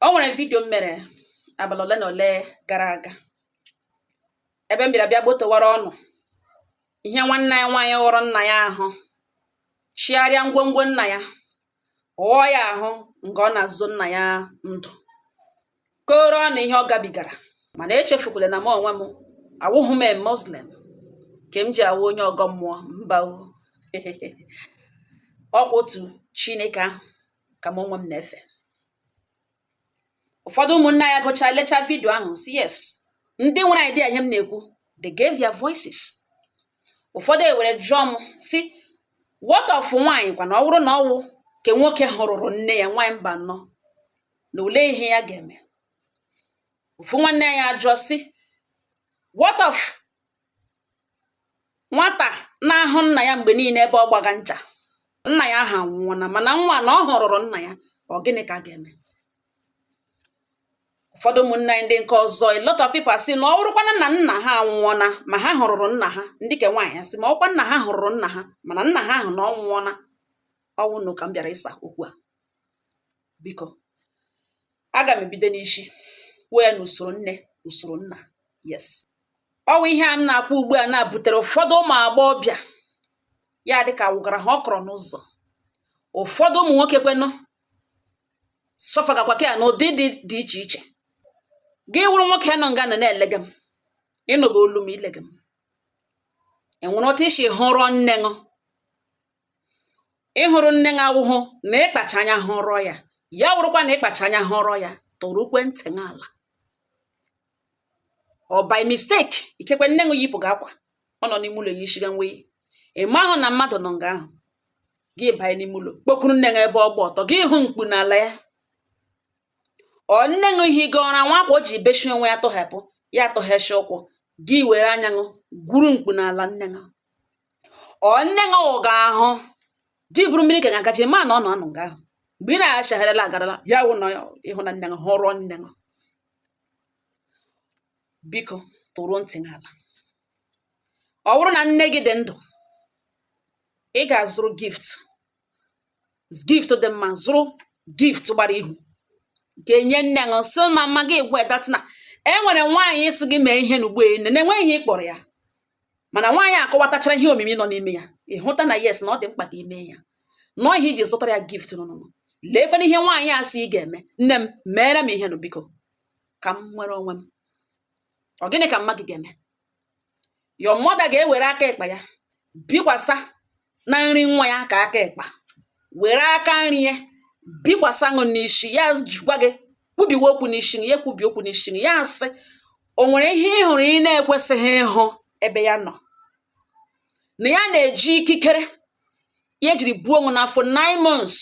o nwere vidio m mere abalị ole na ole gara aga ebe m bịara bịa gbotowara ụnụ ihe nwanne anyị nwaanyị ghụrụ nna ya ahụ chigharịa ngwongwo nna ya ghụọ ya ahụ nge ọ na-azọ nna ya ndụ kọọrọ ụnụ ihe ọ gabigara mana echefukwala na m onwe m awụghị m muslim ke m ji awụ onye ọgọ mmụọ mba ọkwa otu chineke ahụ ka m onwe m na-efe ụfọdụ ụmụnne anyị gụcha lecha vidio ahụ sị yes ndị nwere idea ihe m na-ekwu they gave their voices ụfọdụ ewere jụọ m sị what of nwaanyị kwa na ọ wụrụ na ọwụ ke nwoke hụrụrụ nne ya nwaanyị mbanụ na olee ihe ya ga-eme ofu nwanne anyị ajụọ sị what of nwata na-ahụ nna ya mgbe niile ebe ọ gbaga ncha nna ya ahụ anwụọna mana nwa na ọ hụrụrụ nna ya ọ gịnị ka a ga-eme ụfọdụ ụmụnne anyị ndị nke ọzọ a lot of people asị na ọ wụrụkwana na nna ha anwụọna ma ha hụrụrụ nna ha ndị ke nwaanyị asị ma ọ wụkwa nna ha hụrụrụ nna ha mana nna ha ahụ na ọ nwụọna ọ wụ ụnụ ka m bịara ịsa okwu a biko aga m ebido n'isi kwuo ya n'usoro nne usoro nna yes ọwụ ihe a m na-akwu ugbu a na-butere ụfọdụ ụmụ agbọghọbịa ya dịka awụgara ha ọkọrọ n'ụzọ ụfọdụ ụmụ nwoke kwenụ sọfagakwa ke a n'ụdịdị dị iche iche gị wụrụ nwoke nọ nga na-elege m ị nụga olu m i lege m enwere otu i si hụrụ nne ṅụ ịhụrụ nne ṅụ awụhụ na ịkpacha anya hụrọ ya ya wụrụkwa na ịkpacha anya hụrọ ya tọrụkwa ntị n'ala ọ by mistake ikekwe nne ṅụ yipụga akwa ọ nọ n'ime ụlọ ya yishiga nwe ị maahụ na mmadụ nọ nga ahụ gị banye n'ime ụlọ kpokwuru nne ṅụ ebe ọ gba ọtọ gị hụ mkpu n'ala ya ọ nne ṅụ ihe gị ọra nwa akwa o ji beshi onwe ya tụhapụ ya atọgheshi ụkwụ gị were anya ṅụ gwuru mkpu n'ala nne ṅụ ọ nne ṅụ ghụga ahụ gị buru mmiri ka ga-agachi ma na ọ nọ nga ahụ mgbe ị na-achagharịla agarala ya wụ na ịhụ na nne ṅụ hụrụ nne ṅụ biko tọrụ ntị n'ala ọ bụrụ na nne gị dị ndụ ị ga-azụrụ gift gift dị mma zụrụ gift gbara ihu gaa nye nne ṅụ sị mama gị gwa that na e nwere nwaanyị sị gị mee ihe n'ugbo ene na-enweghị ihe ị kpọrọ ya mana nwaanyị akọwatachara ihe omimi nọ n'ime ya ịhụta na yes na ọ dị mkpa ka i mee ya na ọ ihe i ji zụtara ya gift nụnụnụ leekwa ihe nwaanyị a sị ị ga-eme nne m meere m ihe nụ biko ka m nwere onwe m ọ gịnị ka mama gị ga-eme your mother ga-ewere aka ekpa ya bikwasa na nri nwa ya ke aka ekpa were aka nri ya bikwasa ṅụ n'isi ya gwa gị kwubiwe okwu n'isi ya ekwubi okwu n'isi ya asị o nwere ihe ị hụrụ ị na-ekwesịghị ịhụ ebe ya nọ na ya na-eji ikikere ya ejiri buo ṅụ n'afọ nine months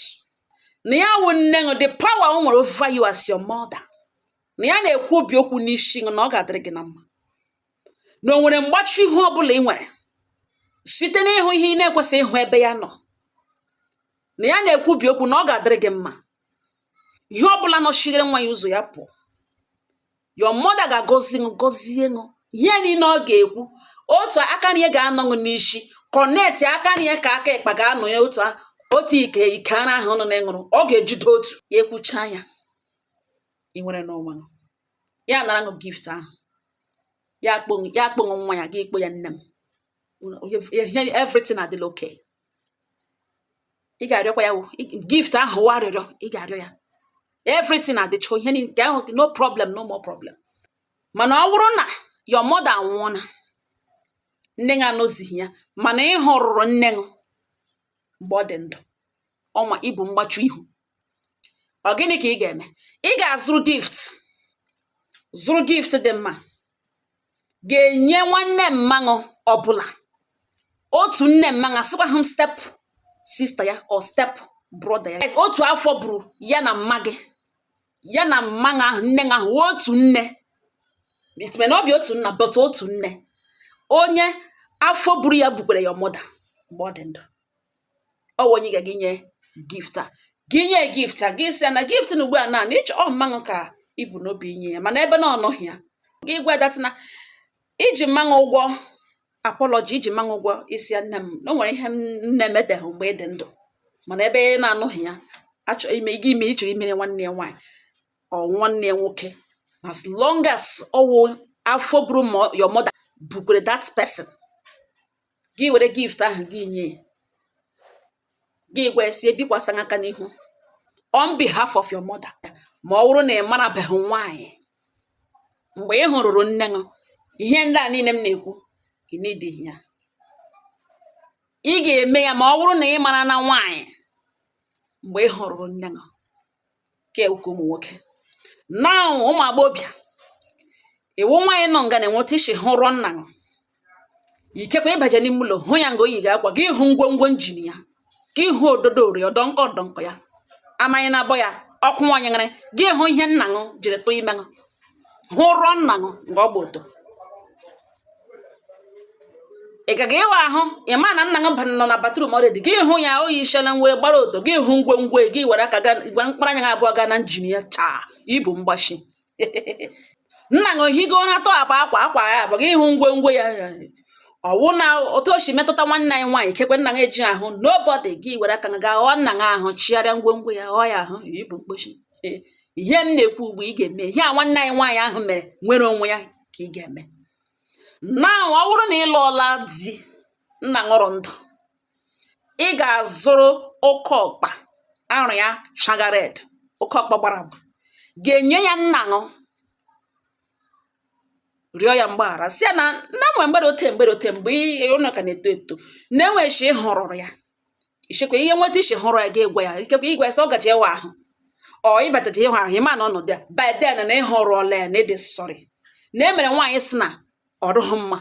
na ya wụ nne ṅụ the power o nwere over you as your mother na ya na-ekwubi okwu n'isi gị na ọ ga-adịrị gị na mma na o nwere mgbachi ihu ọ bụla ị nwere site n'ịhụ ihe ị na-ekwesịghị ịhụ ebe ya nọ na ya na-ekwubi okwu na ọ ga-adịrị gị mma ihe ọ bụla nọchighere nwa ya ụzọ ya pụọ your mother ga-agọzi ṅụ gọzie ṅụ ihe niile ọ ga-ekwu otu aka na ihe ga-anọ ṅụ n'isi kọnetị aka na ihe ka aka ịkpa ga-anọ ya otu otu ike ike ara ahụ nọ na-eṅụrụ ọ ga-ejide otu ya ekwucha ya ị nwerena onwe ṅụ ya nara ṅụ gift ahụ ya akpọ ṅụ nwa ya gị ikpọ ya nne m everything adịla okay ị ga-arịọkwa ya gift ahụ wụ arịrịọ ị ga-arịọ ya everything adịcha ihe nke ahụ no problem no more problem mana ọ bụrụ na your mother anwụọna nne ṅụ anọzighị ya mana ị hụrụrụ nne ṅụ mgbe ọ dị ndụ ọ na-ebu mgbachi ihu ọ gịnị ka ị ga-eme ị ga-azụrụ gift zụrụ gift dị mma ga-enye nwanne mma ṅụ ọbụla otu nne mma ṅụ asịkwahụ m step sister ya or step brother ya otu afọ buru ya na mma gị ya na mma ṅụ nne ha wụ otu nne it may not be otu nna but otu nne onye afọ buru ya bukwere your mother mgbe ọ dị ndụ ọ wụ onye ị ga-aga inye gift a gị nye gift a gị sị ya na gift na ugbu a na na ịchọ ọ mma ṅụ ka i bu n'obi inye ya mana ebe na ọ nọghị ya gị gwa that na i ji mma ṅụ ụgwọ apology i ji mma ṅụ ụgwọ ịsị ya nne m na o nwere ihe m na-emeteghị mgbe ị dị ndụ mana ebe ọ na-anọghị ya achọ ime gị ime ị chọrọ imere nwanne ya nwaanyị or nwanne ya nwoke as long as ọ wụ afọ buru mo- your mother bukwere that person gị were gift ahụ gị nye gị gwa ya sị ya bikwasa aka n'ihu on behalf of your mother ma ọ bụrụ na ị marabeghị nwaanyị mgbe ị hụrụrụ nne ṅụ ihe ndị a niile m na-ekwu ị needighị ya ị ga-eme ya ma ọ bụrụ na ị marana nwaanyị mgbe ị hụrụrụ nne ṅụ ke uke ụmụ nwoke na ụmụ agbọ bịa ị wụ nwaanyị nọ nga na-enweta isi hụ rụọ nna gị ikekwe ị baje n'ime ụlọ hụ ya nga o yiga akwa gị hụ ngwongwo engine ya gị hụ ododo ori ọdọ nkọ ọdọ nkọ ya amaghị na abọ ya ọkụ nwaanyị nwere gị hụ ihe nna ṅụ jiri tụọ ime ṅụ hụ rụọ nna ṅụ nga ọ gba ọtọ ị gaga ịwa ahụ ị ma na nna gị nọ na batrum already gị hụ ya o yishiele nwe gbara ọtọ gị hụ ngwongwo gị were aka gwa mkpụrụ anya gị abụọ gaa na engine ya chaa i bu mgbashi nna gị o higo ụra tọhapụ akwa akwa ya apụọ gị hụ ngwongwo ya ọ wụ na otu o si metụta nwanne anyị nwaanyị ikekwe nna gị eji ahụ nobody gị were aka gị gaa ghụọ nna gị ahụ chigharịa ngwongwo ya ghụọ ya ahụ i bu mgbochi ihe m na-ekwu ugbu ị ga-eme ihe a nwanne anyị nwaanyị ahụ mere nwere onwe ya ka ị ga-eme na ọ bụrụ na ị lụọla di nna ṅụ rụ ndụ ị ga-azụrụ oke ọkpa arụ ya shaga red oke ọkpa gbara agba gaa nye ya nna ṅụ rịọ ya mgbaghara sị ya na na enwe mgbe rụ ote mgbe rụ ote mgbe unu ka na-eto eto na enwe chi ị hụrụrụ ya i chekwa e nwe etu i si hụrụ ya ga-egwa ya ikekwe igwe sị ọ gaji ịwa ahụ ọ ị bataji ịwa ahụ ị ma na ọnọdụ ya by then na ị hụrụla ya na ị dị sorry na e mere nwaanyị sị na ọ dụghị mma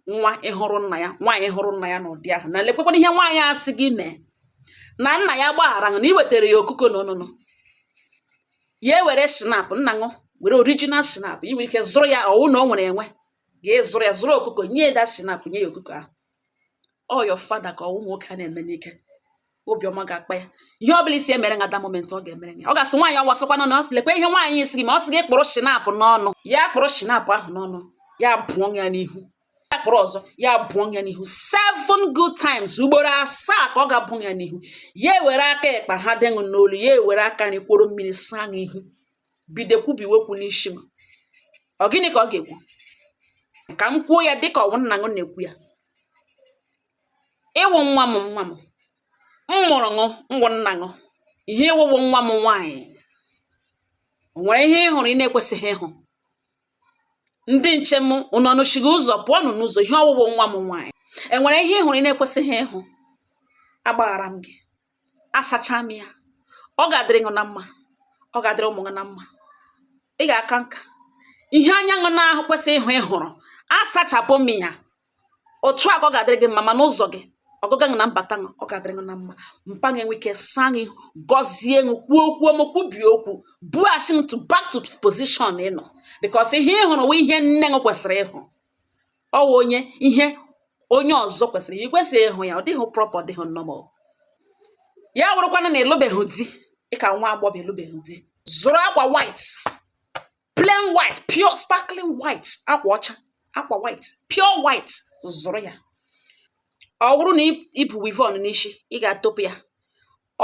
nwa ịhụrụ nna ya nwaanyị hụrụ nna ya n'ụdị ahụ na lekwekwana ihe nwaanyị a sị gị mee na nna ya gbaghara na i wetara ya ọkụkọ na ọṅụṅụ ya ewere schnapp nna ṅụ were original schnapp i nwere ike zụrụ ya ọ wụ na o nwere enwe ga-ezụrụ ya zụrụ ọkụkọ nye ya the schnapp nye ya ọkụkọ ahụ ọ your father ka ọ wụ nwoke a na-eme n'ike obi ọma ga-akpa ya ihe ọ bụla ị sị ya mere ṅụ at that moment ọ ga-emere ya ọ ga-asị nwaanyị awasịkwana na ọ sị lekwa ihe nwaanyị sị gị mee ọ sị gị kpụrụ schnapp n'ọnụ ya kpụrụ schnapp ahụ n'ọnụ ya bụọ ya n'ihu ya kpụrụ ọzọ ya bụọ ya n'ihu seven good times ugboro asaa ka ọ ga-abụ ya n'ihu ya ewere aka ịkpa ha dị ṅụ n'olu ya ewere aka nri kworo mmiri saa ya ihu bido kwubiwe okwu n'isi m ọ gịnị ka ọ ga-ekwu ka m kwuo ya dịka ọ wụ nna ṅụ na-ekwu ya ị wụ nwa m nwa m m mụrụ ṅụ m wụ nna ṅụ ihe ị wụ wụ nwa m nwaanyị enwere ihe ị hụrụ ị na-ekwesịghị ịhụ ndị nche m unu nọchiri ụzọ pụọnụ n'ụzọ ihe ọ wụ wụ nwa m nwaanyị enwere ihe ị hụrụ ị na-ekwesịghị ịhụ agbaghara m gị asacha m ya ọ ga-adịrị gị na mma ọ ga-adịrị ụmụ gị na mma ị ga-aka nka ihe anya ṅụ na-ekwesịghị ịhụ ị hụrụ asachapụ m ya otu a ka ọ ga-adịrị gị mma ma n'ụzọ gị ọgụga ṅụ na mbata ṅụ ọ ga-adịrị gị na mma mpa gị enwe ike saa gị gọzie ṅụ kwuo okwu m kwubie okwu buachi m to back to position ị nọ because ihe ị hụrụ wụ ihe nne ṅụ kwesịrị ịhụ ọ wụ onye ihe onye ọzọ kwesịrị ya i kwesịghị ịhụ ya ọ dịghị proper ọ dịghị normal ya wụrụkwana na ị lụbeghị di ị ka nwa agbọghọ ị lụbeghị di zụrụ akwa white plain white pure sparkling white akwa ọcha akwa white pure white zụrụ ya ọ wụrụ na i bu weavon n'isi ị ga-atọpụ ya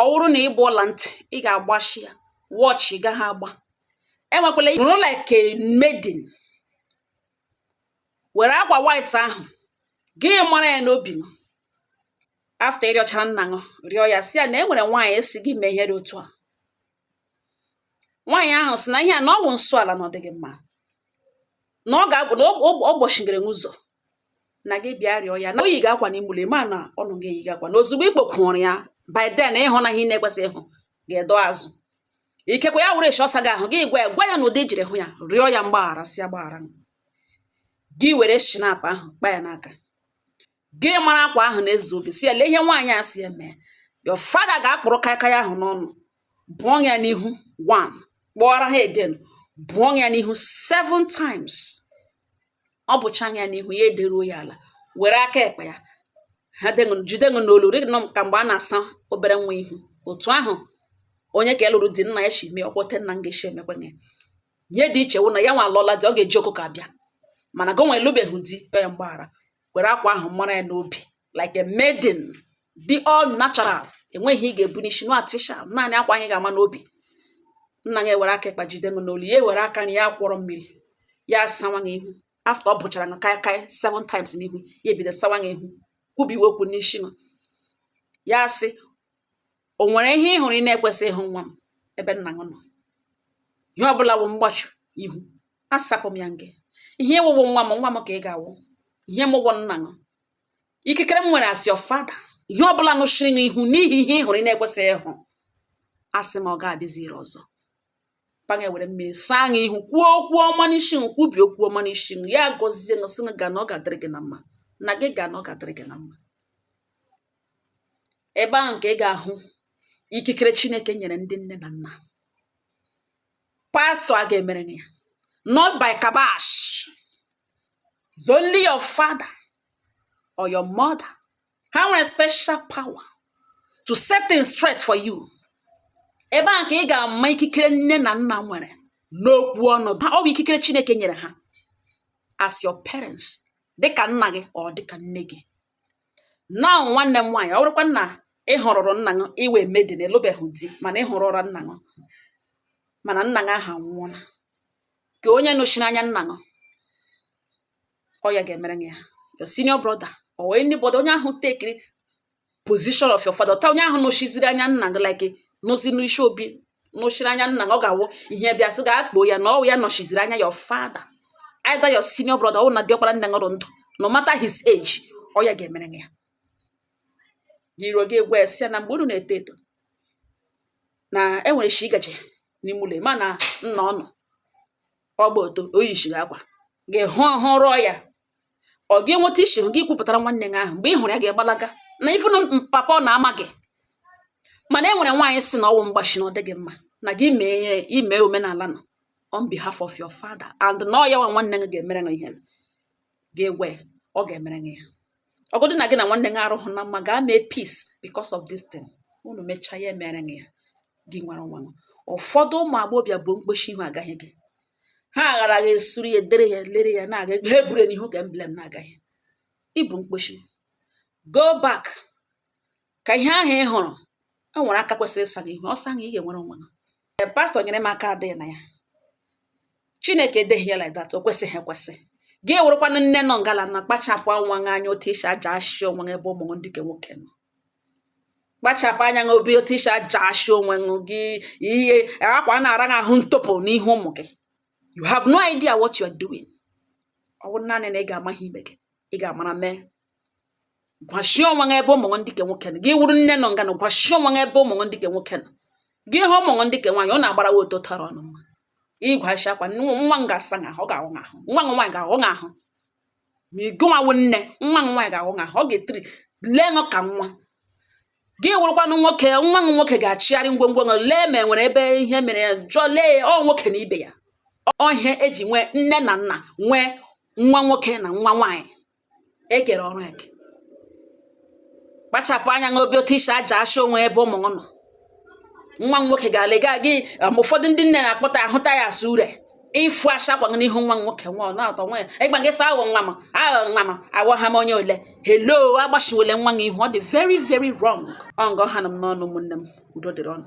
ọ wụrụ na i bu ọla ntị ị ga-agbashi ya watch ị gaghị agba enwekwala nọrọ like a maiden were akwa white ahụ gị mara ya n'obi ṅụ after ị rịọchara nna ṅụ rịọ ya sị ya na e nwere nwaanyị sị gị mee ihe dị otu a nwaanyị ahụ sị na ihe a na ọ bụ nsọ ala na ọ dịghị mma na ọ gbochigere ṅụ ụzọ na gị bịa rịọ ya na o yiga akwa na imule ma na ọ nọ ga eyiga akwa na ozugbo i kpokwuru ya by then ị hụna ihe ị na-ekwesịghị ịhụ ga-edo azụ ikekwe ya wụrụ shị ọ saga ahụ gị gwa ya gwa ya na ụdị i jiri hụ ya rịọ ya mgbaghara sị ya gbaghara gị were schnapp ahụ kpa ya n'aka gị mara akwa ahụ na-ezu obi sị ya lee ihe nwaanyị a sị ya mee your father ga-akpụrụ kaikai ahụ n'ọnụ bụọ ṅụ ya n'ihu one kpọọrọ ha again bụọ ṅụ ya n'ihu seven times ọ bụchaa ṅụ ya n'ihu ya ederuo ya ala were aka ekpe ya ha jide ṅụ n'olu rị nọọ ka mgbe a na-asa obere nwa ihu otu ahụ onye ke lụrụ di nna ya si mee ọ kwa otu nna ṅụ ga-esi emekwa ya ihe dị iche wụ na ya nwa alụọla di ọ ga-eji ọkụkọ abịa mana gị nwa elubeghị di ya mgbaghara were akwa ahụ mara ya n'obi like a maiden dị all natural e nweghị ihe ị ga-ebu n'isi no artificial naanị akwa ahụ ị ga-ama n'obi nna ṅụ ewere aka ịkpa jide ṅụ n'olu ya ewere aka na ya kwọrọ mmiri ya asawa gị ihu after ọ bụchara ṅụ kaikai seven times n'ihu ya ebido sawa gị ihu kwubiwe okwu n'isi ṅụ ya sị o nwere ihe ị hụrụ ị na-ekwesịghị ịhụ nwa m ebe nna gị nọ ihe ọbụla wụ mgbachu ihu asapụ m ya nke ihe ị wụ wụ nwa m nwa m ka ị ga-awụ ihe m wụ wụ nna gị ikikere m nwere as your father ihe ọbụla nọchiri ṅụ ihu n'ihi ihe ị hụrụ ị na-ekwesịghị ịhụ asị m ọ gaghị adịzi ire ọzọ papa gị ewere mmiri saa gị ihu kwuo okwu ọma n'isi ṅụ kwubi okwu ọma n'isi ṅụ ya gọzie gị sị gị ga na ọ ga-adịrị gị na mma na gị ga na ọ ga-adịrị gị na mma ebe ahụ ka ị ga-ahụ ikikere chineke nyere ndị nne na nna pastor agaghị emere gị ya not by kabash is only your father or your mother ha nwere special power to set things straight for you ebe a ka ị ga-ama ikikere nne na nna nwere n'okwu ọnụ ha ọ bụ ikikere Chineke nyere ha as your parents dịka nna gị or dịka nne gị now nwanne m nwaanyị ọ bụrụkwa na ị hụrụ ụra nna gị ị wụ maiden na-elubeghị di mana ị hụrụ ụra nna gị mana nna gị ahụ anwụọla ka onye nọchiri anya nna ṅụ ọ ya ga-emere gị ya your senior brother or anybody onye ahụ tekiri position of your father onye ahụ nọchiziri anya nna gị like nọzi n'isi obi nọchiri anya nna gị ọ ga-awụ ihe bịa sị gaa kpọọ ya na ọ wụ ya nọchiziri anya your father either your senior brother or na diọkpara nne ṅụ rị ndụ no matter his age ọ ya ga-emere ya iro gị egwu ya na mgbe unu na-eto eto na enwere shi gaje n'ime ụlọ ma na nna unu ọ gba ọtọ o yichighị akwa gị hụrụ ya ọ gị nweta isi gị kwupụtara nwanne gị ahụ mgbe ị hụrụ ya gị agbalaga na ifu na papa ọ na-ama gị mana e nwere nwaanyị si na ọ wụ mgbachi na ọ dịghị mma na gị ime omenala nọ on behalf of your father and na ọ ya nwa nwanne gị ga-emere gị ihe ga-egwe ya ọ ga-emere gị ya ọ wụdị na gị na nwanne gị arụhụ na mma gaa mee peace because of this thing unu mechaa ya emere gị ya gị nwere nwa ụfọdụ ụmụ agbọghọbịa bụ mkpochi ihu agaghị gị ha aghara gị esuru ya edere ya lere ya na-aga ha eburu n'ihu ka emblem na-agaghị ịbụ mkpochi go back ka ihe ahụ ị hụrụ o nwere aka kwesịrị ịsa gị ihu ọ saa gị ị ga-enwere onwe gị e, pastọ nyere m aka adịghị na ya chineke edeghị ya like that o kwesịghị ekwesị gị wụrụkwanụ nne nọ ngala na kpachapụ nwa gị anya otu i si ajasha onwe gị ebe ụmụ ndị nke nwoke nọ kpachapụ anya gị obi otu i si ajasha onwe gị ihe akwa na-ara gị ahụ ntọpụ n'ihu ụmụ gị you have no idea what you are doing ọ bụrụ naanị na ị ga-ama ihe i mege ị ga-amara mee gwachie onwe gị ebe ụmụ gị ndị ke nwoke nọ gị wụrụ nne nọ nga na gwachie onwe gị ebe ụmụ gị ndị ke nwoke nọ gị hụ ụmụ gị ndị ke nwaanyị ọ na-agbara wa ọtọ tọrọ unu mma ịgwachi akwa nwa m ga-asa m ahụ ọ ga-ahụ m ahụ nwa m nwaanyị ga-ahụ m ahụ ma ị gụnwawo nne nwa m nwaanyị ga-ahụ m ahụ ọ ga-etiri lee nụ ka nwa gị wụrụkwanụ nwoke nwa m nwoke ga-achịgharị ngwongwo gị lee ma e nwere ebe ihe mere ya jụọ lee ya ọ nwoke na ibe ya ọ ihe e ji nwee nne na nna nwee nwa nwoke na nwa nwaanyị e kere ọrụ eke kpachapụ anya gị obi otu i si ajasha onwe ebe ụmụ nọ nwa m nwoke ga-elega gị um, ụfọdụ ndị nne na-akpọta ahụta ya asụ ure ịfụ asha akwa n'ihu nwa m nwoke nwa ọ na-atọ nwa ya ịgba gị sa awọ nwa m aghọ nwa m awọ ha m onye ole hello agbachiwele nwa gị ihu ọ dị very very wrong ọ nga ọ ha nọ m n'ọnụ ụmụnne m udo dịrị unu